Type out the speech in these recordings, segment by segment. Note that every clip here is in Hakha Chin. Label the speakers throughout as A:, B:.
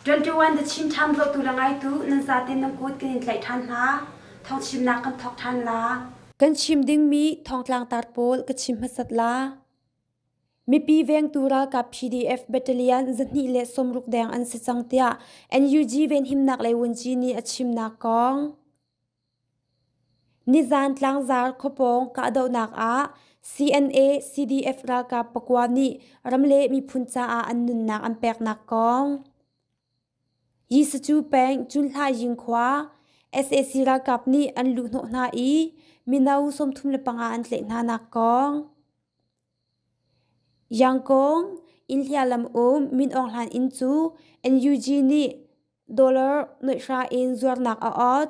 A: 21 the Chin Town lo tu la ngai tu nan za tin nan kut kan in tlai than hna thong chim nak kan thok than la kan chim ding mi thong tlang tar pawl ka chim hmasat la mipi vengtu ralkap pdf battalion zahnih le sawmruk deng an si cang tiah NUG venhimnak lei wunci nih a chimnak kong nizan tlangzar khawpawng kahdohnak ah CNA CDF ralkap pakua nih ram le miphun caah an nunnak an peknak kong Jesuh peng Cunhlaizing khua sac ralkap nih an luhhnawh hna i mino sawmthum le panga an tlaih hna nak kong. Yangkong Inhlia lam um Min Aung Hlain inn cu NUG nih dollar noihra in zuarnak a awt.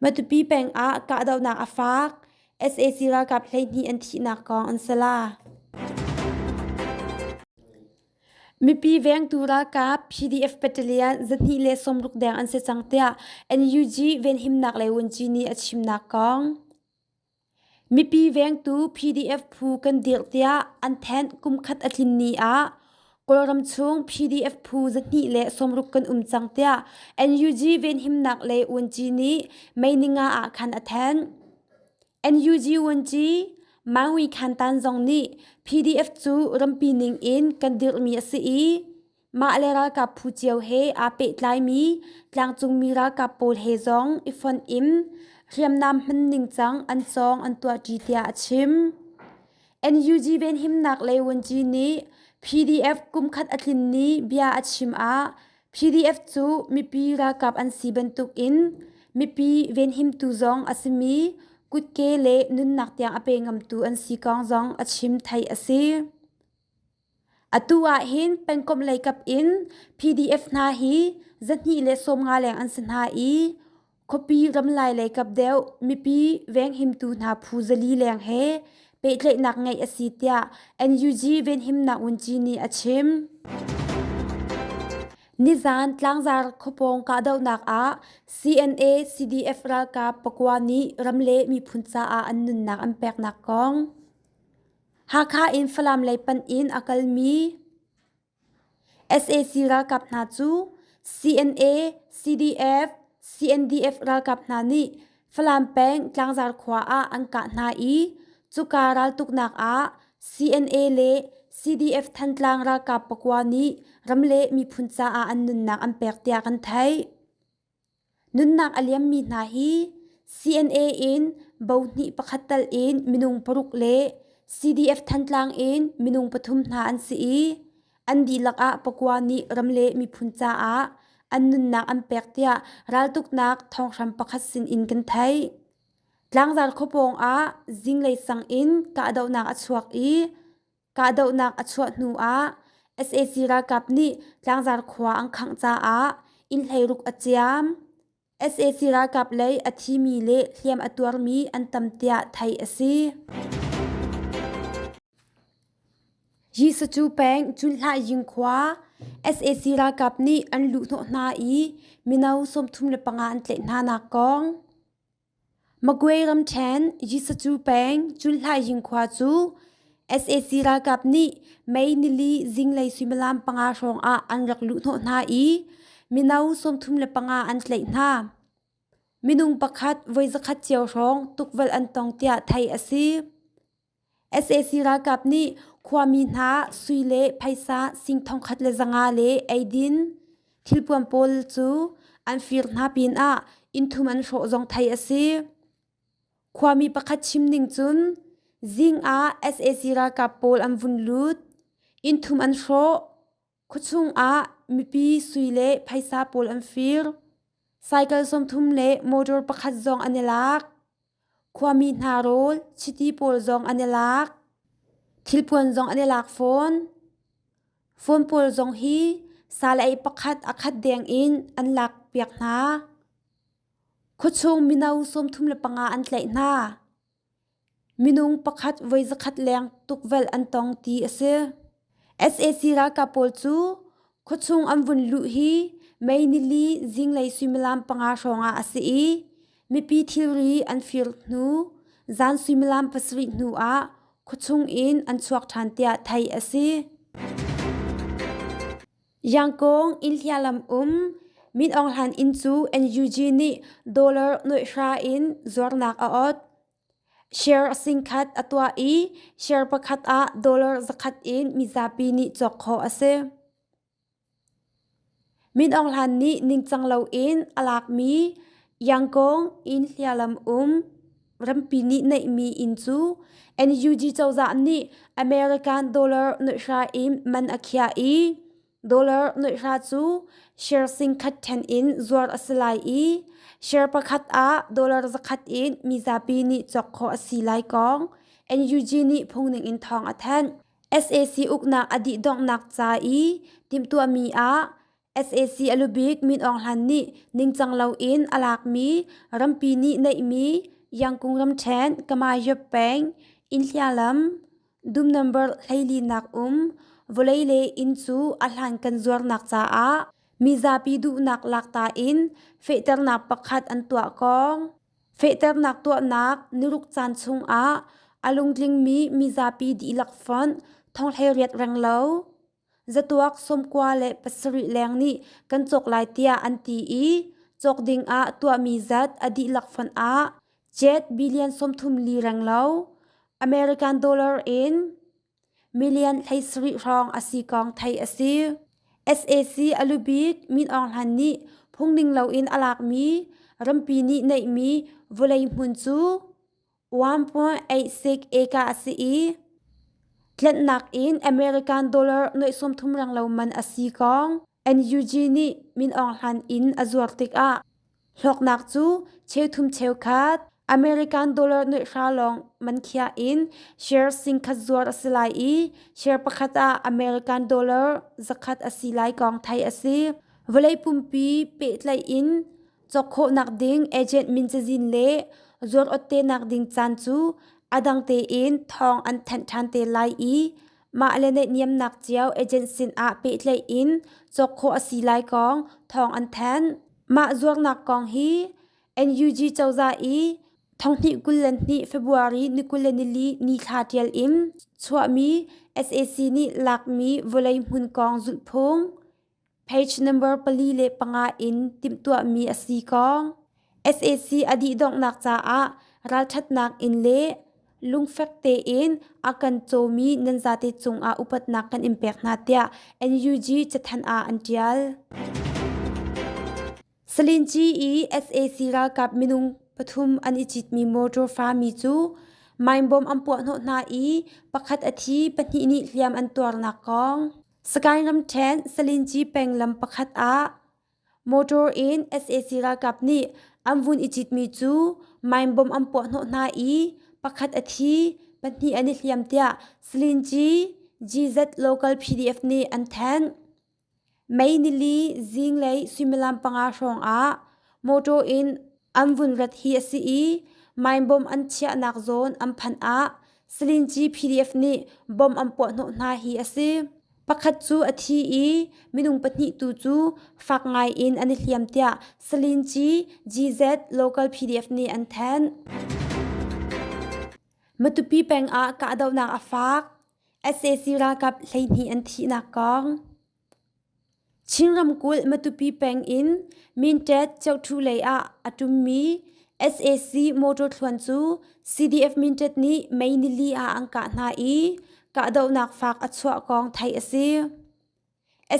A: Matupi peng ah kahdohnak a faak, sac ralkap hleihnih an thihnak kong an si la. Mipi vengtu ralkap PDF Battalion zahnih le sawmruk deng an si cang tiah NUG venhimnak le wunci nih a chimnak kong. Mipi vengtu PDF phu kan dirh tiah an thenh kumkhat a tlin ni ah Kawlram chung PDF phu zahnih le sawmruk kan um cang tiah NUG venhimnak le uanci nih Meininga ah khan a thenh. NUG uanci Maui Khan Tan zong nih PDF cu rampi ning in kan dirhmi a si i Mah le ralkap phu cio he aa pehtlaimi tlangcungmi ralkap pawl he zong i fonh in hriamnam hman ningcang an cawng an tuahṭi tiah a chim. NUG venhimnak lei vuanci nih PDF kumkhat a tlin ni bia a chim ah PDF cu mipi ralkap an si bantukin mipi venhimtu zong a simi kutke le nunnak tiang a pe ngamtu an si kong zong a chim theih a si. Atu ahhin pengkomh leikap in PDF hna hi zahnih le sawmnga leng an si hna i khuapi ramlai leikap deuh mipi venghimtu hna phu zali leng he pehtlaihnak ngeih a si tiah NUG Venhimnak Ngunci nih a chim. Nizan Tlangzar khuapawng kahdohnak ah CNA CDF ralkap pakua nih ram le miphun caah an nunnak an peknak kong Hakha in Falam lei panh in a kalmi sac ralkap hna cu CNA, CDF, CNDF ralkap hna nih Falam peng Tlangzar khua ah an kah hna i cuka raltuknak ah CNA le CDF Thantlang ralkap pakua nih ram le miphun caah an nunnak an pek tiah kan theih. Nunnak a liammi hna hi CNA in bo hnih pakhat tal in minung paruk le CDF Thantlang in minung pathum hna an si i an dihlak ah pakua nih ram le miphun caah an nunnak an pek tiah raltuknak thawnghrang pakhat sin in kan theih. Tlangzar khuapawng ah zinglei sang in kahdohnak a chuak i Kahdohnak a chuah hnu ah sac ralkap nih Tlangzar khua an khangh caah inn hleiruk a ciam. sac ralkap lei a thimi le hliam a tuarmi an tam tiah theih a si. Jesucu peng Cunhlai Ying khua sac ralkap nih an luh hnawh hna i mino sawmthum le panga an tlaih hnanak kong. Magway ramṭhen Yisuzu peng Cunhlaihin khua cu sac ralkap nih May nili zinglei suimilam panga hrawng ah an rak luh hnawh hna i mino sawmthum le panga an tlaih hna. Minung pakhat voi zakhat cio hrawng tukvelh an tong tiah theih a si. sac ralkap nih khuami hna sui le phaisa sing thongkhat le zanga le eidin thilpuan pawl cu an fir hna pinah innthum an hrawh zong theih a si khuami pakhat chim ning cun zing ah sac ralkap pawl an vun lut innthum an hrawh Khuachung ah mipi sui le phaisa pawl an fir. Cycle sawmthum le motor pakhat zong an i lak. Khuami hna rawl, chiti pawl zong an i lak. Thilpuan zong an i lak fawn. Phone pawl zong hi salei pakhat a khat deng in an lak piak hna. Khuachung mino sawmthum le panga an tlaih hna. Minung pakhat voi zakhat leng tukvelh an tong ti a si. sac ralkap pawl cu khuachung an vun luh hi May nili zinglei suimilam panga hrawngah a si i mipi thilri an fir hnu zan suimilam pasarih hnuah khuachung in an chuak ṭhan tiah theih a si. Yangkong inn hliahlam um Min Aung Hlain inn cu NUG nih dollar nuaih hra in zuarnak a ot. Share singkhat a tuah i share pakhat ah dollar zakhat in mizapi nih cawk khawh a si. Min Aung Hlain nih ningcang loin a lakmi Yangkong inn hliahlam um. Rampi nih neihmi inn cu NUG cozah nih American dollar nuihra in man a khiah i dollar nuihra cu share singkhat ṭhen in zuar a si lai i share pakhat ah dollar zakhat in mizapi nih cawk khawh a si lai kong NUG nih phungning in thawng a thanh. SAC uknak a dih donghnak ca i timhtuahmi ah sac a lubik min aung hlan nih ningcang loin a lakmi rampi nih neihmi yangkung ramṭhen kamayob peng inhlialam dum nambar hleilinak um vawlei le inn cu a hlan kan zuarnak caah mizapi duhnak lakta in fehternak pakhat an tuah kong fehternak tuahnak niruk caan chungah a lungtlingmi mizapi dihlak fonh thonghleiriat reng lo Zatuak sawmkua le pasarih leng nih kan cawk lai tiah an ti i cawk ding ah tuahmi zat a dihlak fon ah jet billion sawmthum li reng lo American dollar in million thleisarih hrawng a si kong theih a si. SAC a lubik Min Aung Hlain nih phungning loin a lakmi rampi nih neihmi vawlei hmun cu 1.86 eka a si i tlanhnak in American dollar noihsawm thum reng lo man a si kong NUG nih min aung hlan in a zuar tikah hlawknak cu cheuthum cheukhat American dollar noihra lawng man khia in share singkhat zuar a si lai i share pakhat ah American dollar zakhat a si lai kong theih a si. Vawlei pumpi pehtlaih in Cawk khawhnak ding agent min cazin le zuarawt tenak ding caan cu a dang tein thawng an thanh ṭhan te lai i mah le naihniamnak cio agent sinah pehtlaih in cawk khawh a si lai kong thawng an thanh. Mah zuarnak kong hi NUG cozah i thonghnih kul le hnih February ni kul le nili ni thla ṭial in chuahmi SAC nih lakmi vawlei hmun kong zulhphung Page number pali le panga in timhtuahmi a si kong SAC a dih donghnak caah ralṭhatnak in le lungfek tein a kan cawmi nan zate cungah upatnak kan in pek hna tiah NUG cathanh ah an ṭial. Salinci i sac ralkap minung pathum an i citmi motor fami cu meinbom an puahhnawh hna i pakhat a thi, pahnih nih hliam an tuarnak kong. Sagaing ramṭhen Salinci peng lam pakhat ah motor in sac ralkap nih an vun i citmi cu meinbom an puahhnawh hna i pakhat a thi, pahnih an i hliam tiah Salinci GZ Local PDF nih an thanh. May nili zing lei suimilam panga hrawngah mawṭaw in an vun rat hi a si i maimbom an chiahnak zawn an phanh ah Salinci PDF nih bom an puahhnawh hna hi a si. Pakhat cu a thi i minung pahnih tu cu fak ngaiin an i hliam tiah Salinci GZ Local PDF nih an thanh. Matupi pengah kahdohnak a faak. sac ralkap hleihnih an thihnak kong chin ramkulh matupi peng in mintet cheuhthu lei ah a ṭummi sac motor thluan cu cdf mintet nih mei nili ah an kah hna i kahdohnak faak a chuah kong theih a si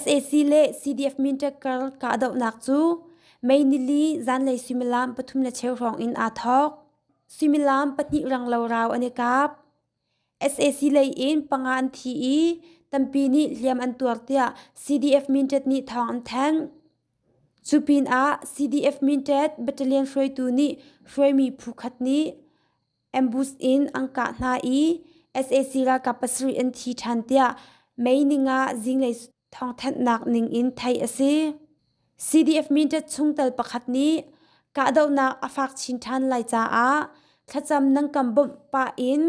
A: sac le cdf mintet kar kahdohnak cu mei nili zanlei suimilam pathum le cheu hrawng in aa thawk suimilam pahnih ranglo rau an i kap sac lei in panga an thi i tampi nih hliam an tuar tiah cdf mintet nih thawng an thanh cu pinah cdf mintet battalion hruaitu nih hruaimi phu khat nih ambush in an kah hna i sac ralkap pasarih an thi ṭhan tiah mei ning ah zinglei Thawngthanhnak ningin theih a si. CDF Mindat chungtel pakhat nih kahdohnak a fak chin ṭhan lai caah thlacam nan kan bawmh pah in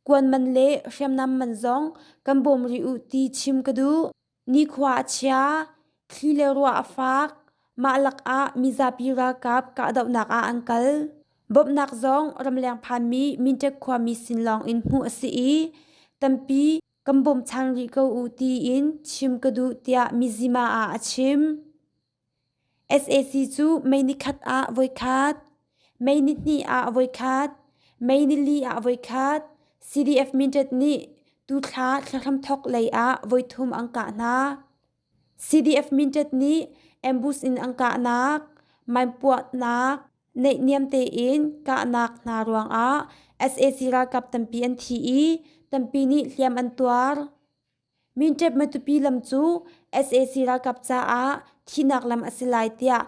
A: kuan man le hriamnam man zong kan bawm rih u ti chim ka duh. Nikhua a chia, thli le ruah a fak, mah lakah mizapi ralkap kahdohnak ah an kal. Bawmhnak zong ramleng phanmi Mindat khuami sin lawng in hmuh a si i tampi Kan bawmchang rih ko u tiin chim ka duh tiah mizima ah a chim. SAC cu mei ni khat ah voi khat, mei ni hnih ah voi khat, mei ni li ah voi khat CDF Mindat nih tuthla thlahramthok lei ah voi thum an kah hna. CDF Mintet nih Ambush in an kahnak, maimpuahnak, neihniam tein kahnak hna ruangah sac ralkap tampi an thi i tampi nih hliam an tuar. Mintet Matupi lam cu sac ralkap caah thihnak lam a si lai tiah